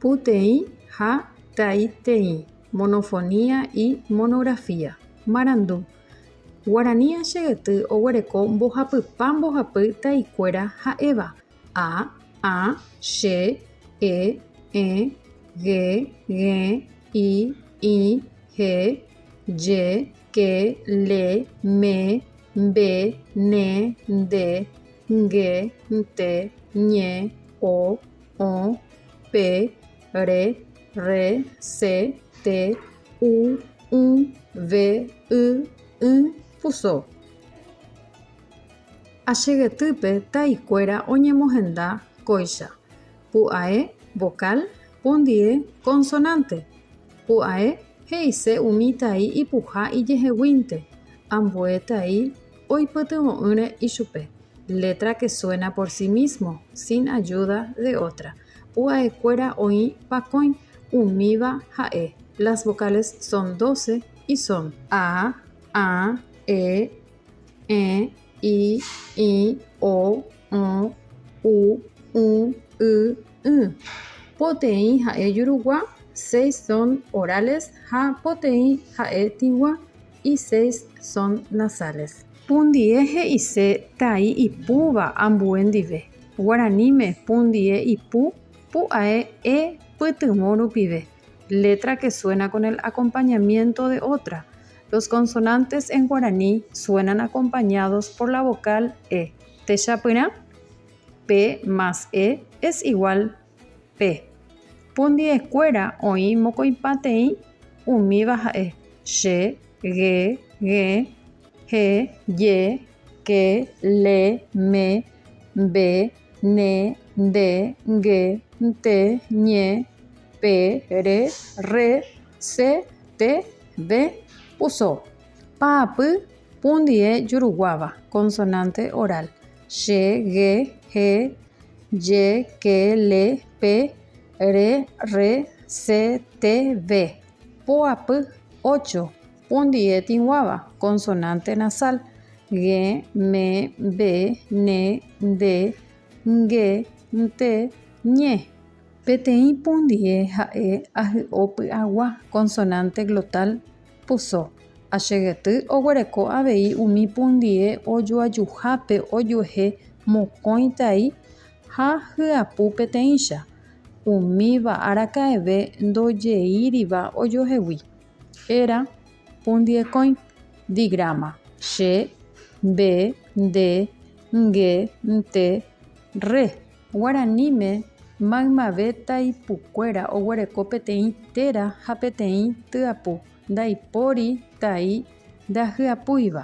Puteĩ ha taiteĩ, monofonía y monografía. Marandu. Guarani Achey'yty oguereko mbohapypa mbohapy taikuéra ha'éva, a, ã, che, e, ẽ, ge, gẽ, i, ĩ, he, je, ke, le, me, mbe, ne, nde, nge, nte, ñe, o, o, pe, re, rre, se, te, u, ũ, ve, y, ỹ, puso. Achegetýpe taikuéra oñemohenda kóicha, pu'ae, vokál, pondie, konsonánte. Pu'ae he'ise umi tai ipuha ijeheguínte, ambue tai Oipytyvõ'ỹre ichupe, letra que suena por sí mismo, sin ayuda de otra. Pu'aekuéra oĩ pakõi, umíva ha'e, las vocales son doce y son. A, ã, e, ẽ, i, ĩ, o, õ, u, ũ, y, ỹ. Poteĩ ha'e jurugua, seis son orales ha poteĩ ha'e tĩgua. Y seis son nasales. Pundie he'ise tai ipúva ambue ndive. Guaraníme pundie ipu pu'ae e pytyvõ rupive. Letra que suena con el acompañamiento de otra. Los consonantes en guaraní suenan acompañados por la vocal e. Techapyrã, P más E es igual Pe pundi'ekuéra oĩ mokõipateĩ umíva ha'e, che, ge, g̃e, he, je, ke, le, me, mbe, ne, nde, nge, nte, ñe, pe, re, rre, se, te, ve, puso. Pa'apy pundi'e juruguáva, consonante oral, Che, ge, he, je, ke, le, pe, re, rre, se, te, ve. Po apy, ocho. Pundie tĩguáva, konsonánte nasál. Ge, me, ve, ne, nde, nge, nte, ñe. Peteĩ pundie ha'e ahy'o py'agua, konsonánte glotál. Puso, Achegyty oguereko avei umi pundie ojoajuhápe ojuehe mokõi tai ha hyapu peteĩcha, umíva araka'eve ndojeíriva ojohegui. Héra, pundiekõi. Digráma, Che, Mbe, Nde, Nge, Nte, Rre. Guaraníme, maymave taipukuéra oguereko peteĩ téra ha peteĩ tyapu ndaipóri tai ndahyapúiva.